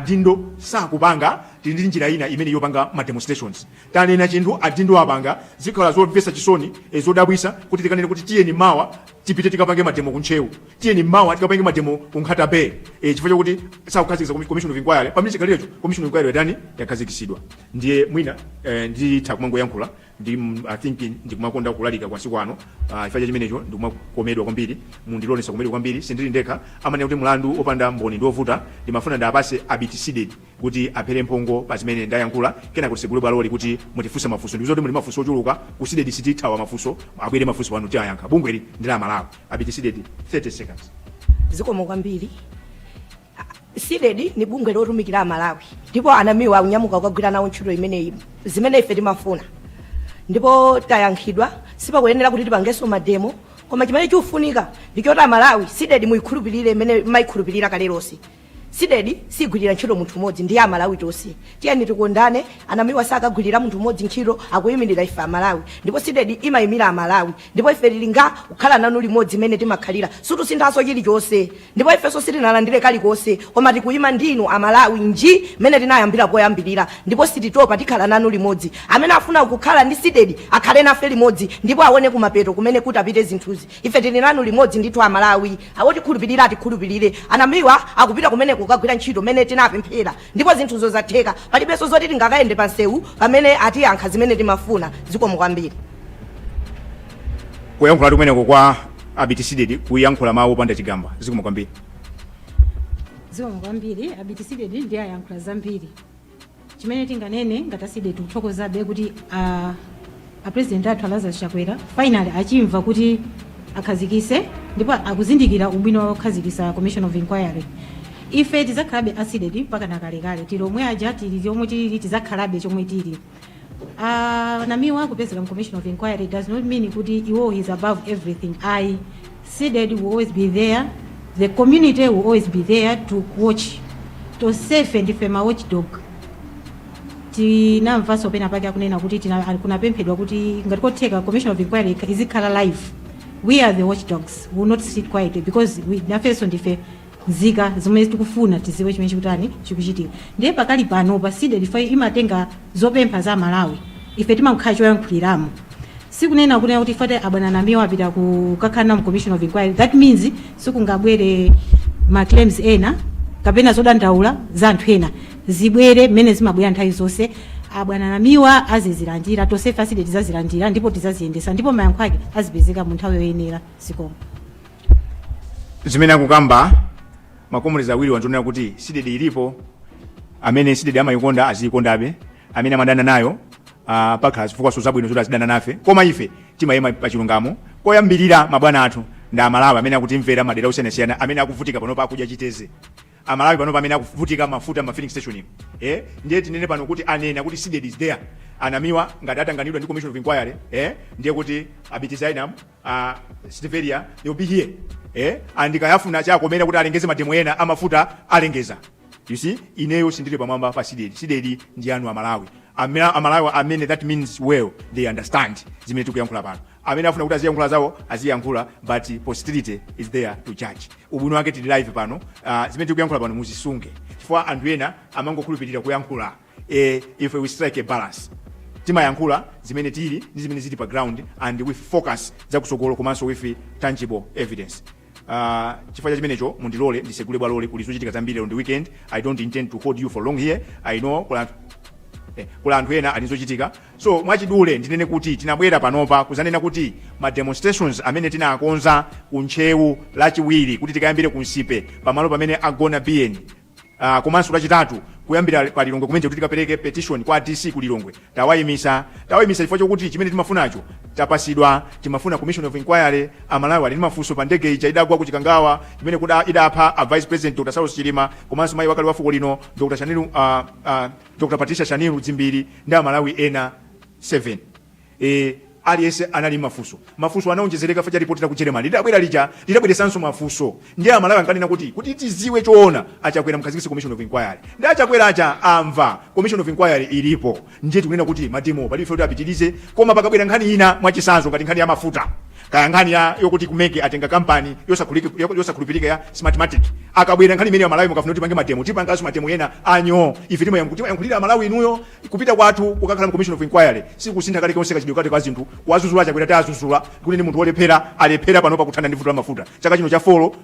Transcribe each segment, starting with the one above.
adindo sakupanga tili ndi njira ina imene yopanga ma demonstrations tanena chinthu adindo apanga zikhala zomvesa chisoni e, zodabwisa kuti tikanene kuti tiyeni mawa tipite tikapange mademo ku Ntcheu tiyeni mawa tikapange mademo ku nkhata bay e, chifukwa chakuti sakukhazikisa komi- commission of inquiry pamene chikhalirecho commission of inquiry yatani yakhazikisidwa ndiye mwina e, nditha kumangoyankhula ndi i think ndikumakonda kulalika masiku ano uh, chifukwa chimenecho ndikumakomedwa kwambiri ndiye ndisakomedwe kwambiri sindili ndekha amanena kuti mlandu opanda mboni ndi ovuta ndimafuna ndiwapase abiti sidedi kuti aphere mphongo pa zimene ndayankhula kenaka titsegule bwaloli kuti mutifunse mafunso ndikuziwa kuti muli mafunso ochuluka ku sidedi sitithawa mafunso abwere mafunso pano tiyayankha bungweli ndi la amalawi abiti sidedi 30 seconds zikomo kwambiri sidedi ndi bungwe lotumikira amalawi ndipo anamiwa akunyamuka kukagwira nawo ntchito imeneyi zimene ife timafuna ndipo tayankhidwa sipakuyenera kuti tipangenso mademo koma chimene chikufunika ndi choti amalawi sidedi muyikhulupirire imene mayikhulupirira kale lonse sidedi sigwirira ntchito munthu umodzi ndiye amalawi tonse tiyeni tikondane anamiwa sakagwirira munthu umodzi ntchito akuyimirira ife amalawi ndipo sidedi imayimira amalawi Ndipo ife tiri nga kukhala nanu limodzi mmene timakhalira, sitisinthanso chirichonse. Ndipo ifenso sitinalandire kalikonse, koma tikuima ndi inu a Malawi ngati mmene tinayambira poyambirira, ndipo sititopa, tikhala nanu limodzi. Amene afuna kukhala ndi Cdedi akhale nafe limodzi, ndipo awone kumapeto kumene kutapite zinthuzi. Ife tiri nanu limodzi ndithu a Malawi. Otikhulupirira atikhulupirire. Anamiwa akupita kumeneko kukagwira ntchito mmene tinapemphera. Ndipo zinthuzo zatheka. Palibenso zoti tingakayende pamsewu pamene atiyankha zimene timafuna. Zikomo kwambiri. Kuyankhulatu kumeneko kwa Abiti Sidedi, kuyankhula mawu opanda chigamba. Zikomo kwambiri. zikomo kwambiri abiti sidedi ndiye ayankhula zambiri chimene tinganene ngati asidedi tikuthokozabe kuti ah, A president athu a Lazarus Chakwera finally achimva kuti akhazikise ndipo akuzindikira ubwino wokhazikisa commission of inquiry. Ife tizakhalabe a sidedi mpaka nakalekale tili omwe aja tili chomwe tili tizakhalabe chomwe tili. Uh, Namiwa kupezeka mu commission of inquiry does not mean kuti iwo he's above everything ayi Cdedi will always be there, the community will always be there to watch. Tonsefe ndife ma watchdog. Tinamvanso pena pake akunena kuti tina- ali- kunapemphedwa kuti ngati kotheka commission of inquiry izikhala live. We are the watchdogs. We will not sit quietly because nafenso ndife nzika zomwe tikufuna tiziwe chimene chikutani chikuchitika ndiye pakali panopa sidedi ija imatenga zopempha za amalawi ife timangokhala choyankhuliramo sikunena kunena kuti chifukwa choti abwana namiwa apita kukakhala nawo commission of inquiry that means sikungabwere ma claims ena kapena zodandaula za anthu ena zibwere mmene zimabwera nthawi zonse abwana namiwa azizilandira tonsefe asidedi tizazilandira ndipo tizaziyendesa ndipo mayankho ake azipezeka mu nthawi yoyenera zikomo zimene akukamba makomuredi awiri anzonena kuti sidedi ilipo amene sidedi amayikonda aziyikondabe amene amadana nayo uh, pakhala zifukwa so zabwino zoti azidana nafe koma ife timayima pa chilungamo koyambirira mabwana athu ndi amalawi amene akutimvera madera osiyanasiyana amene akuvutika panopa akudya chiteze amalawi panopa amene akuvutika mafuta ma filling station umu eh? ndiye tinene pano kuti anena kuti sidedi is there a Namiwa ngati atanganidwa ndi commission of inquiry eh? ndiye kuti abitizainam a Silvester they will be here eh and kaya afuna chakomera kuti alengeze mademo ena amafuta alengeza you see ineyo sindili pamwamba pa sidedi sidedi ndi anu amalawi amene amalawi amene that means well they understand zimene tikuyankhula pano amene afuna kuti aziyankhula zawo aziyankhula but posterity is there to judge ubwino wake tili live pano uh, zimene tikuyankhula pano muzisunge chifukwa anthu ena amangokhulupirira kuyankhula e, ife we strike a balance timayankhula zimene zili ndi zimene zili pa ground and with focus zakutsogolo komanso with tangible evidence Uh, chifukwa cha chimenecho mundilole ndisegule bwaloli kuli zochita zambiri lero ndi weekend i don't intend to hold you for long here i know kuli anthu eh, kuli anthu ena ali ndi zochita so mwachidule ndinene kuti tinabwera panopa kuzanena kuti ma demonstrations amene tinakonza ku ntcheu lachiwiri kuti tikayambire ku nsipe pamalo pamene agona biyeni Uh, komanso lachitatu kuyambira pa Lilongwe kuno kuti tikapereke petition kwa DC ku Lilongwe tawaimisa tawaimisa chifukwa chokuti chimene timafunacho tapasidwa timafuna commission of inquiry amalawi ali ndi mafunso pa ndege ija idagwa ku Chikangawa imene kuda idapha a vice president Dr. Saulos Chilima komanso mayi wakale wa fuko lino Dr. Shanil uh, uh, Dr. Patricia Shanil Dzimbiri ndi amalawi ena 7 Eee aliyense anali ndi mafunso. Mafunso anaonjezereka chifukwa cha report laku Jeremani lidabwera lija lidabweresanso mafunso. Ndiye a Malawi ankanena kuti, kuti tidziwe choona a Chakwera mukhazikitse commission of inquiry. Ndiye a Chakwera aja amva commission of inquiry ilipo. Ndiye tikunena kuti ma demowo palibe chifukwa choti apitirize koma pakabwera nkhani ina mwachitsanzo ngati nkhani ya mafuta kaya nkhani ya yokuti ku mec atenga kampani yosakhuliki- yosakhulupirika ya smartmatic. Akabwera nkhani imeneyo a Malawi mukafuna kuti tipange ma demo tipanganso ma demo ena anyooo. Ife timayankhulira a Malawi inuyo Kupita kwathu kukakhala mu commission of inquiry sikusintha kalikonse kachitidwe kake ka zinthu. Kuwazuzula a Chakwera tawazuzula kuti ndi munthu olephera, alephera panopa kuthana ndi vuto la mafuta. Chaka chino cha folo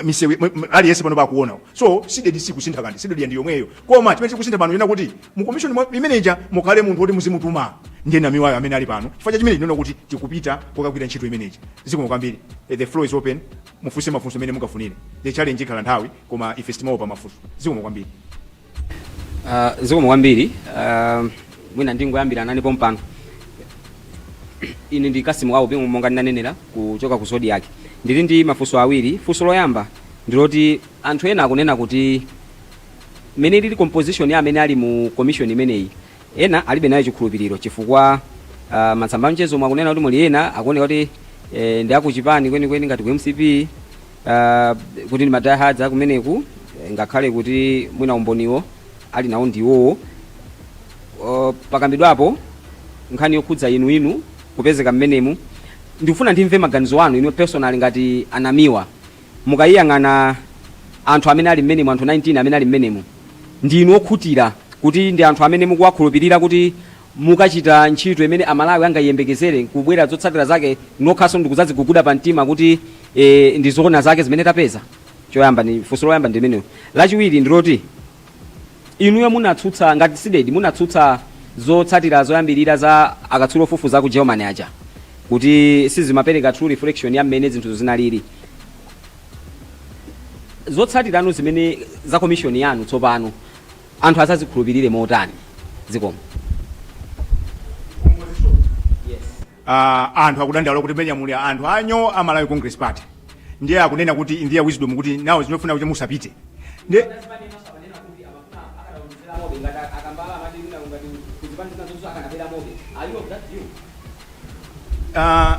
misewu aliyense panopa akuona. So sidedi sikusintha kanthu, sidedi ndi yomweyo. Koma chimene chikusintha pano nchakuti mu commission mwa- imene ija mukhale munthu oti muzimutuma ndiye Namiwayo amene ali pano. Chifukwa cha chimenecho ndinene kuti tikupita kukagwira ntchito imene ija. Zikomo kwambiri. Eh, The floor is open. Mufunse mafunso amene mungafunire. The challenge ikhala nthawi koma ife sitimaopa mafunso. Zikomo kwambiri. Uh, zikomo kwambiri uh, mwina ndingoyambira nane pompano ine ndi Cassim Aubi monga ndinanenera kuchoka ku Zodiak ndili ndi mafunso awiri funso loyamba ndiloti anthu ena akunena kuti mmene ilili composition ya amene ali mu commission imeneyi ena alibe nayo chikhulupiriro chifukwa uh, m'masamba amchezomu akunena kuti muli ena akuoneka kuti eh, ndi akuchipani kwenikweni ngati ku mcp Uh, kuti ndi madiehards akumeneku ngakhale kuti mwina umboniwo ali nawo ndi iwowo uh, pakambidwapo nkhani yokhudza inu inu kupezeka mmenemu ndikufuna ndimve maganizo anu inuyo personally ngati a Namiwa mukayiyang'ana anthu amene ali mmenemu anthu 19 amene ali mmenemu ndi inu okhutira kuti ndi anthu amene mukuwakhulupirira kuti mukachita ntchito imene a Malawi angayiyembekezere nkubwera zotsatira zake nokhanso ndikuzaziguguda pa mtima kuti eeh ndi zoona zake zimene tapeza? Choyamba ndi, funso loyamba ndi limenelo. Lachiwiri ndi loti inuyo munatsutsa, ngati CDEDI, munatsutsa zotsatira zoyambirira za akatswiri ofufuza aku Germany aja kuti sizimapereka true reflection ya mmene zinthuzo zinalili. Zotsatirano zimene, za commission yanu tsopano. anthu azazikhulupilire motani zikomo uh, anthu akudandaula kuti mmenemja muli anthu anyo a Malawi Congress Party ndiye akunena kuti in their wisdom kuti nawo zimafuna kuti musapite ndiye uh,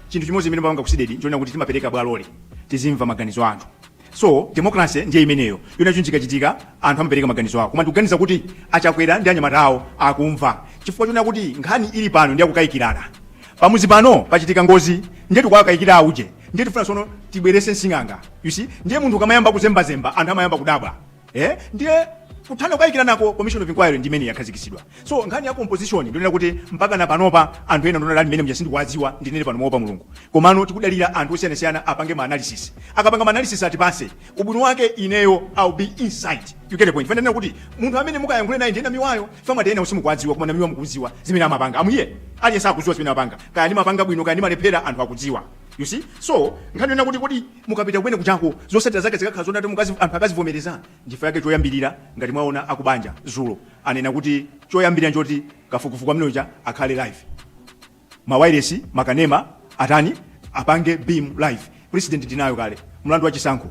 chinthu chimodzi chimene timapanga ku CDEDI ndichonena kuti timapereka bwaloli tizimva maganizo a anthu so democracy ndiye imeneyo yona chinthu chikachitika anthu amapereka maganizo awo koma ndikuganiza kuti a Chakwera ndi anyamata awo akumva chifukwa chonena kuti nkhani ili pano ndi yakukayikirana pamuzi pano pachitika ngozi ndiye tikuwakayikira auje ndiye tifuna sono tibwerese nsing'anga you see ndiye munthu ukamayamba kuzembazemba anthu amayamba kudabwa eh ndiye kuthana kukayikiranako commission of inquiry ndi imene yakhazikitsidwa so nkhani ya composition ndi yonena kuti mpaka na panopa anthu ena ndionera ali mmenemja sindikuwadziwa ndinene pano moopa mulungu komano tikudalira anthu osiyanasiyana apange ma analysis akapanga ma analysis atipase ubwino wake ineyo i'll be inside you get the point fanana kuti munthu amene mukayankhule naye ndiye Namiwayo chifukwa mwati enawo simukuwadziwa koma Namiwa mukuziwa zimene amapanga amuye aliyense akuziwa zimene amapanga kaya ndimapanga bwino kaya ndimalephera anthu akudziwa you see so nkhani yona kuti kuti Mukapita kumene kujako zosatira zake zikakhala zoti ati mukazi anthu akazivomereza nchifukwa yake choyambirira ngati mwaona akubanja zulo anena kuti choyambirira nchoti kafukufuku amene uja akhale live mawailesi makanema atani apange beam live precedent tinayo kale mlandu wa chisankho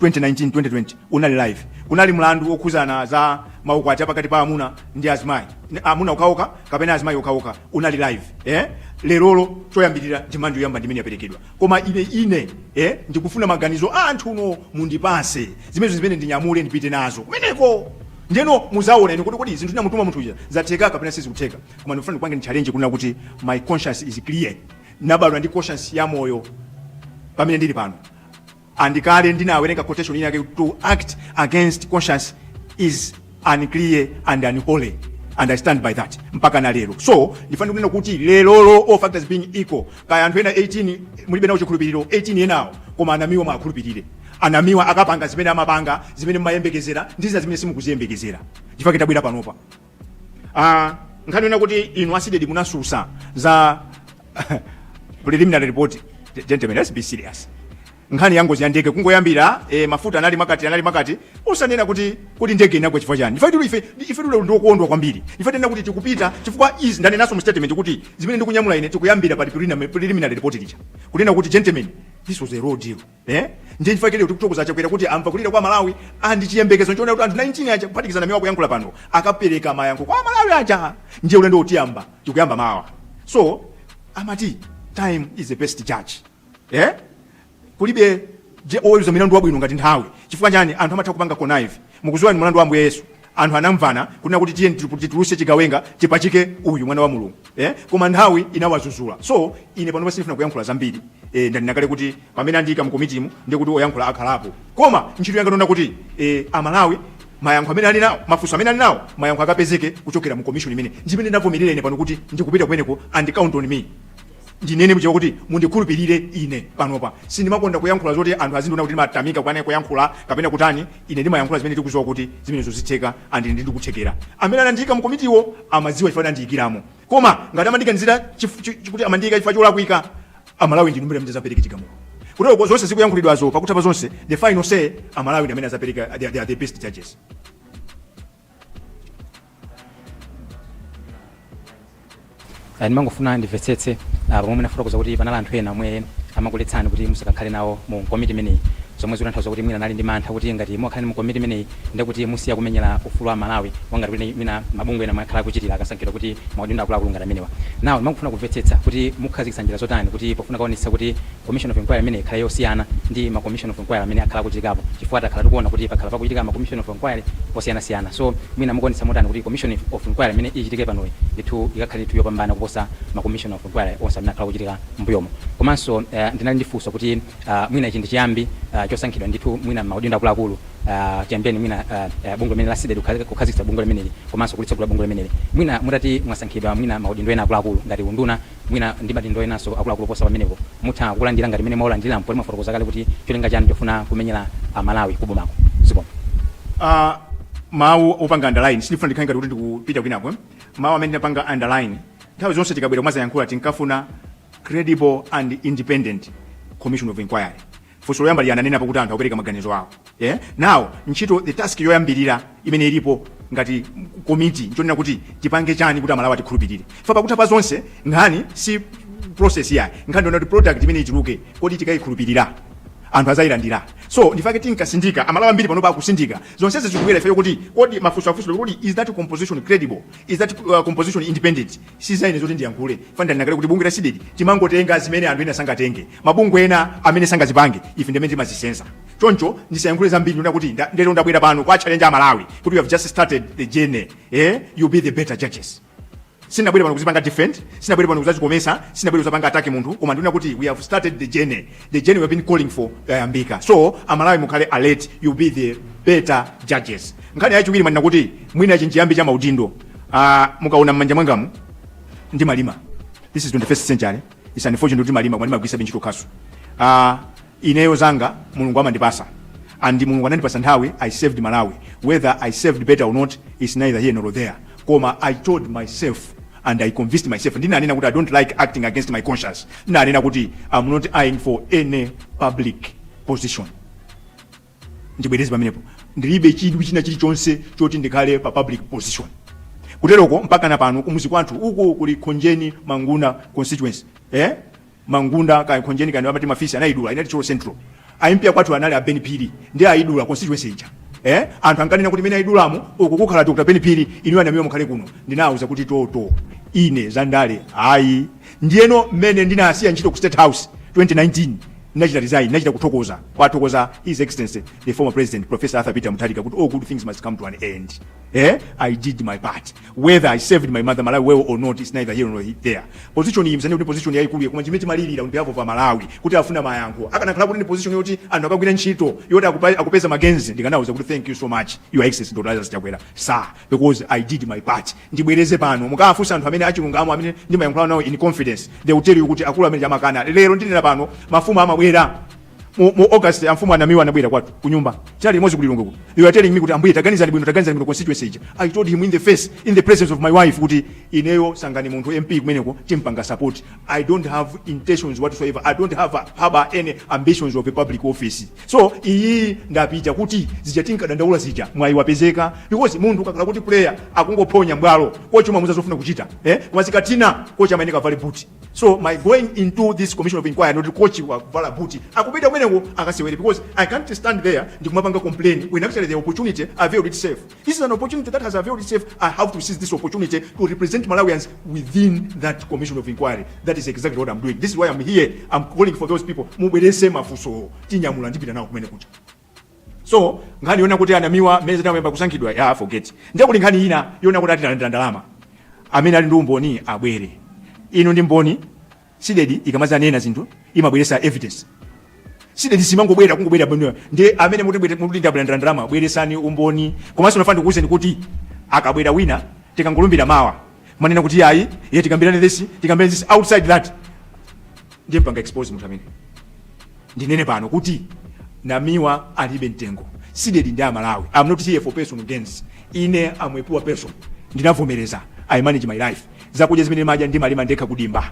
2019 2020 unali live kunali mlandu wokhuzana za maukwati apakati pa amuna ndi azimayi Ni- amuna okhaokha kapena azimayi okhaokha unali live eh lerolo choyambirira demand yoyamba ndimene yaperekedwa Koma ine, ine, eh, ndikufuna maganizo a anthuno mundipatse zimenezo zimene ndinyamule ndipite nazo kumeneko ndeno muzaona ine kuti kodi zinthu ndinamutuma munthu uja zatheka kapena sizikutheka koma ndikufuna ndikupangeni challenge kunena kuti my conscience is clear ndinabadwa ndi conscience ya moyo pamene ndili pano And kale ndinawerenga quotation ina yake kuti to act against conscience is unclean and unholy and i stand by that mpaka na lero so ndifuna kunena kuti leroli all factors being equal kaya anthu ena 18 mulibe nawo chikhulupiriro 18 enawo koma ana ameneyu mumukhulupirire ameneyu akapanga zimene amapanga zimene mumayembekezera ndi zina zimene simukuziyembekezera chifukwa tabwera panopa Ah, nkhani yonena kuti inu a Cdedi munatsutsa za preliminary report Ge- gentlemen let's be serious nkhani ya ngozi ya ndege kungoyambira eh, mafuta anali angati anali angati osanena kuti kuti ndege inagwa chifukwa chani ife tuli ife ife tuli ndi okondwa kwambiri ife tanena kuti tikupita chifukwa izi ndanenaso mu statement kuti zimene ndikunyamula ine tikuyambira pa preliminary preliminary report lija kunena kuti gentlemen this was a raw deal Eh? Ndiye chifukwa chake lero tikuthokoza Chakwera kuti amva kulira kwa Amalawi and chiyembekezo nchonena kuti anthu 19 aja kuphatikizana amene akuyankhula pano akapereka mayankho kwa Amalawi aja ndiye ulendowu tiyamba tikuyamba mawa so amati time is the best judge eh? kulibe je oweruza milandu wabwino ngati nthawi chifukwa chani anthu amatha kupanga connive mukudziwa ndi mlandu wa Ambuye Yesu Anthu anamvana kunena kuti tiyeni tipu titulutse chigawenga tipachike uyu mwana wa Mulungu eh koma nthawi inawazuzula so ine panopa sindifuna kuyankhula zambiri eh ndanena kale kuti pamene andiika mu komitimu ndiye kuti oyankhula akhalapo koma ntchito yanga ndi yonena kuti eh a Malawi mayankho amene ali nawo mafunso amene ali nawo mayankho akapezeke kuchokera mu commission imene ndimene ndavomerera ine pano kuti ndikupita kumeneko and count on me ndinene m'Chichewa kuti mundikhulupirire ine panopa sindimakonda kuyankhula zoti anthu azindiona kuti ndimatamika kukana kuyankhula kapena kutani ine ndimayankhula zimene ndikudziwa kuti zimenezo zitheka and ndi ndikuthekera amene anandiyika mu komitimo amadziwa chifukwa andiyikiramo koma ngati amandiganizira chif- chi- chi- kuti amandiyika chifukwa cholakwika amalawi ndi inu nomwe amene adzapereke chigamulo kutero zonse zikuyankhulidwazo pakutha pa zonse the final say amalawi ndi amene adzapereka they are they are the best judges Ah, ndimangofuna ndimvetsetse ah, pomwe munafotokoza kuti panali anthu ena omwe amakuletsani kuti musakakhale nawo mu komiti imeneyi zomwe zikutanthauza kuti mwina anali ndi mantha kuti ngati mukakhala mu komiti imeneyi ndiye kuti musiya kumenyera ufulu wa Amalawi ngati kuti mwina mabungwe ena akhala akuchitira akasankhidwa mu maudindo akuluakulu ngati amenewa nawo ndimangofuna kumvetsetsa kuti mukhazikitsa njira zotani kuti pofuna kuonetsetsa kuti Commission of Enquiry imeneyi ikhale yosiyana ndi ma Commission of Enquiry amene akhala akuchitikapo chifukwa takhala tikuona kuti pakhala pakuchitika ma Commission of Enquiry osiyanasiyana so mwina mukuonetsetsa motani kuti Commission of Enquiry imene ichitike panoyi ndithu ikakhale ndithu yopambana kuposa ma Commission of Enquiry onse amene akhala akuchitika m'mbuyomu. Komanso ndinali ndi funso kuti mwina ichi ndi chiyambi chosankhidwa ndithu mwina m'maudindo akuluakulu chiyambireni mwina bungwe limene la Cdedi kukhazikitsa bungwe limeneli komanso kulitsegula bungwe limeneli mwina mutati mwasankhidwa mwina maudindo ena akuluakulu ngati unduna mwina ndi madindo enanso akuluakulu oposa pamenepo, mutha kukulandira ngati mmene mwawalandiriramu poti mwafotokoza kale kuti cholinga chanu nchofuna kumenyera Amalawi ku bomako. Zikomo. uh, mawu opanga underline sindifuna ndikhale ngati kuti ndikupita kwinako eh? mawu amene tinapanga underline nthawi zonse tikabwera kumadzayankhula tinkafuna credible and independent commission of inquiry Funso loyamba lija ananenapo kuti anthu akupereka maganizo awo. e Now, ntchito, the task yoyambirira imene ilipo ngati komiti nchonena kuti tipange chani kuti Amalawi atikhulupirire. Chifukwa pakutha pa zonse, nkhani si process iyayi. Nkhani ndiyonena kuti product imene ituluke, kodi tikayikhulupirira? Anthu azayilandira? So, ndife amene tinkatsindika, Amalawi ambiri panopa akutsindika. Zonsezi zikubwera chifukwa chokuti kodi mafunso afunsidwa kuti kodi is that composition credible? Is that composition independent? sizaine zoti ndiyankhule paja ndinanena kale kuti bungwe la CDEDI timangotenga zimene anthu ena sangatenge mabungwe ena amene sangazipange, ife ndimene timazisenza choncho ndisayankhule zambiri ndinena kuti nda- lero ndabwera pano kuwa challenge amalawi kuti you have just started the journey eh? you be the better judges sinabwere pano kuzipanga defend sinabwere pano kudzadzikometsa sinabwere kudzapanga attack munthu koma ndinena kuti we have started the journey the journey we have been calling for yayambika so amalawi mukhale alert you be the better judges nkhani yachiwiri mwanena kuti mwina nchiyambi cha maudindo Ah, mukaona mmanja mwangamu ndimalima this is 21st century it's unfortunate kuti ndimalima koma ndimagwiritsabe ntchito khasu Ah, ineyo zanga mulungu anandipatsa and mulungu anandipatsa nthawi i served malawi whether i served better or not is neither here nor there koma i told myself and i convinced myself ndinanena kuti i don't like acting against my conscience ndinanena kuti i'm not eyeing for any public position ndibwereze pamenepo ndilibe chidwi china chilichonse choti ndikhale pa public position kuteroko mpakana pano kumuzi kwathu uku kuli khonjeni mangunda constituency eh? mangunda kaya khonjeni kaya amati mafisi anayidula inali thyolo central a mp a kwathu anali a ben phiri ndiye ayidula constituency ija eh? anthu ankanena kuti imene ayidulamo uku kukhala dr ben phiri inu a namiwa mukhale kuno ndinawauza kuti toto ine zandale ayi Ndiyeno mmene ndinasiya ntchito ku State House 2019, ndinachita resign, ndinachita kuthokoza, kuwathokoza His Excellency the former President Professor Arthur Peter Mutharika kuti all good things must come to an end. Eh? I did my part. Whether I served my mother Malawi well or not is neither here nor there. Position iyi musaone kuti position yayikulu iyayi koma chimene timalirira on behalf of Amalawi kuti akufuna mayankho. Akanakhala kuti ndi position yoti anthu akagwira ntchito yoti akupa- akupeza ma gains ndikanawauza kuti thank you so much Your Excellency Dr. Lazarus Chakwera. Sir, because I did my part ndibwereze pano mukawafunsa anthu amene achilungamo amene ndimayankhulana nawo in confidence they will tell you kuti akulu amenewa amakana lero ndinena pano mafumu amabwera mu, mu august amfumu a namiwa anabwera kwathu kunyumba tinali limodzi ku lilongwe kuti you are telling me kuti ambuye taganizani bwino taganizani bwino constituency ija i told him in the face in the presence of my wife kuti ineyo sankhani munthu mp kumeneko timpanga support i don't have intentions whatsoever i don't have a, have any ambitions of a public office So iyiyi ndapita kuti zija tinkadandaula zija mwayi wapezeka because munthu ukakhala kuti player akungophonya mbwalo kochi umamuuza zofuna kuchita eh koma zikathina kochi amayeneka avale boot so my going into this commission of inquiry ndi kochi wavala boot akupita kumeneko akasewere because i can't stand there ndikumapanga complain when actually the opportunity availed itself This is an opportunity that has availed itself. I have to seize this opportunity to represent Malawians within that commission of inquiry. That is exactly what I'm doing. This is why I'm here. I'm calling for those people. Mubwerese mafunso tinyamula ndipita nawo kumeneko cha. So nkhani yonena kuti a Namiwa m'mesa tayamba kusankhidwa ya forget. Ndiye kuti nkhani ina yonena kuti ati alandira ndalama. Amene ali ndi umboni abwere. Inu ndi mboni Cdedi ikamadzanena zinthu imabweresa evidence. Cdedi simangobwera kungobwera bwino nde amene muti bwete muti ndalandira ndalama bweresani umboni komanso ndifuna ndikuuzeni kuti akabwera wina tikangolumbira mawa mwanena kuti ayi ye tikambirane this tikambirane this outside that ndizampanga expose munthu amene ndinene pano kuti Namiwa alibe mtengo Cdedi ndi aMalawi am not here for personal gains ine am a poor person ndinavomereza i manage my life zakudya zimene ndimadya ndimalima ndekha kudimba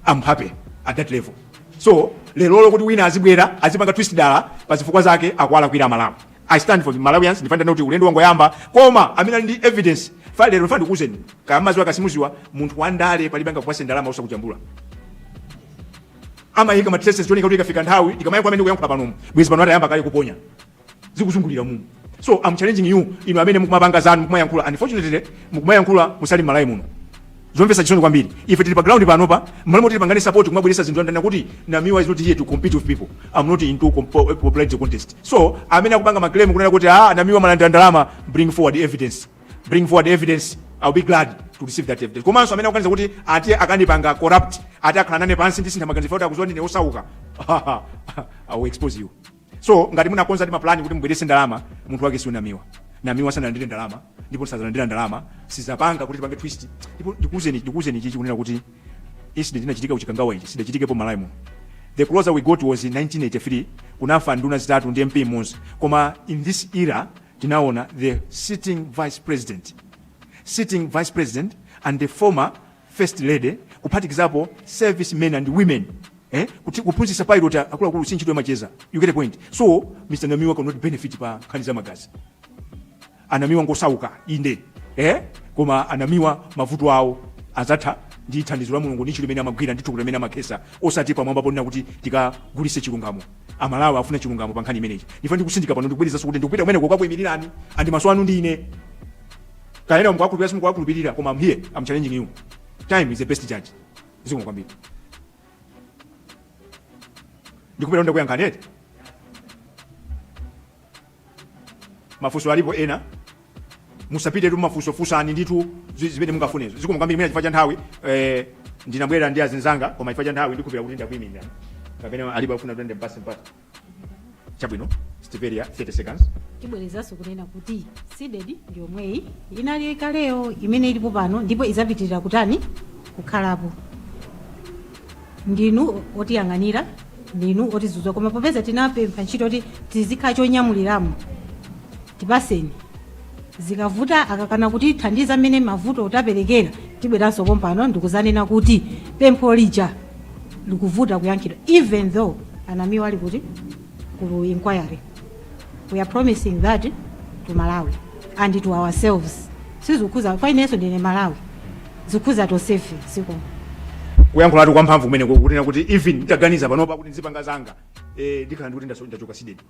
am happy at that level so lerolo kuti wina azibwera azipanga twist dala pa zifukwa zake akuwalakwira aMalawi i stand for the malawians ndifuna ndinene kuti ulendo wangoyamba koma amene ali ndi evidence fa lero fa ndikuuzeni kaya mumaziwa kaya simuziwa munthu wandale palibe angakupase ndalama osakujambula amayika ma traces choneka kuti ikafika nthawi ikamafika mmene kuyankhula panomu bwezi pano atayamba kale kuponya zikuzungulira umu so am challenging you inu amene mukumapanga zanu mukumayankhula unfortunately mukumayankhula musali Malawi muno zomvesa chisoni kwambiri ife tili pa ground panopa m'malo moti tipangane support kumabweresa zinthu ndanena kuti Namiwa is not here to compete with people i'm not into compo- popularity contest so amene akupanga maclaim kunena kuti ah Namiwa walandira ndalama bring forward evidence bring forward evidence i'll be glad to receive that evidence komanso amene akuganiza kuti ati akandipanga corrupt ati akhale nane pansi ndisintha maganizo kuti akuziwa ndine osauka i will expose you so ngati munakonza ndi mapulani kuti mubwerese ndalama munthu wake si Namiwa Namiwa sanalandire ndalama ndipo sazalandira ndalama sazapanga kuti tipange twist ndipo ndikuuzeni ndikuuzeni ichichi kunena kuti incident inachitika ku Chikangawa ichi sidachitikepo Malawi muno the closer we got was in 1983 kunafa nduna zitatu ndi mp mmodzi koma in this era tinaona the sitting vice president sitting vice president and the former First Lady, kuphatikizapo service men and women eh? kuti kuphunzitsa pilot akuluakulu si ntchito yamacheza you get a point so Mr. Namiwa cannot benefit pa nkhani za magazi a Namiwa ngosauka inde eh? koma a Namiwa mavuto awo azatha ndi thandizo la mulungu ndi ntchito imene amagwira ndi thukuta imene amakhesa osati pamwamba ponena kuti tikagulise chilungamo aMalawi afuna chilungamo pa nkhani imeneyi ndipo ndikutsindika pano ndikubwerezaso kuti ndikupita kumeneko kukakuimirirani ndi maso anu ndi ine kaya mukuwakhulupirira simukuwakhulupirira koma am here am challenging you time is the best judge zikomo kwambiri ndikhulupirira ndakuyankhani eti mafunso alipo ena musapitetu mafunso funsani ndithu zi- zimene mungafunezo zikomo kwambiri mwina chifukwa cha nthawi eh, ndinabwera ndi azinzanga koma chifukwa cha nthawi ndikhulupirira kuti ndakuyimirira kapena alipo afuna kuti ndipase mpata chabwino stiperia 30 seconds tibwerezanso kunena kuti sidedi ndi yomweyi inali kaleyo imene ilipo pano ndipo idzapitirira kutani kukhalapo ndinu otiyang'anira ndinu otidzudzula koma popeza tinapempha ntchito kuti tizikhala chonyamuliramo tipaseni zikavuta akakana kutithandiza mmene mavuto taperekera tibweranso pompano ndi kudzanena kuti pempho lija likuvuta kuyankhidwa even though anamiwa ali kuti kulu inquiry we are promising that to malawi and to ourselves sizikhuza kwa inenso ndine mMalawi zikhuza tosefe siko kuyankhulatu kwa mphamvu kumeneko kunena kuti even nditaganiza panopa kuti ndizipanga zanga eh, ndikhala ndikuti ndaso- ndachoka sidedi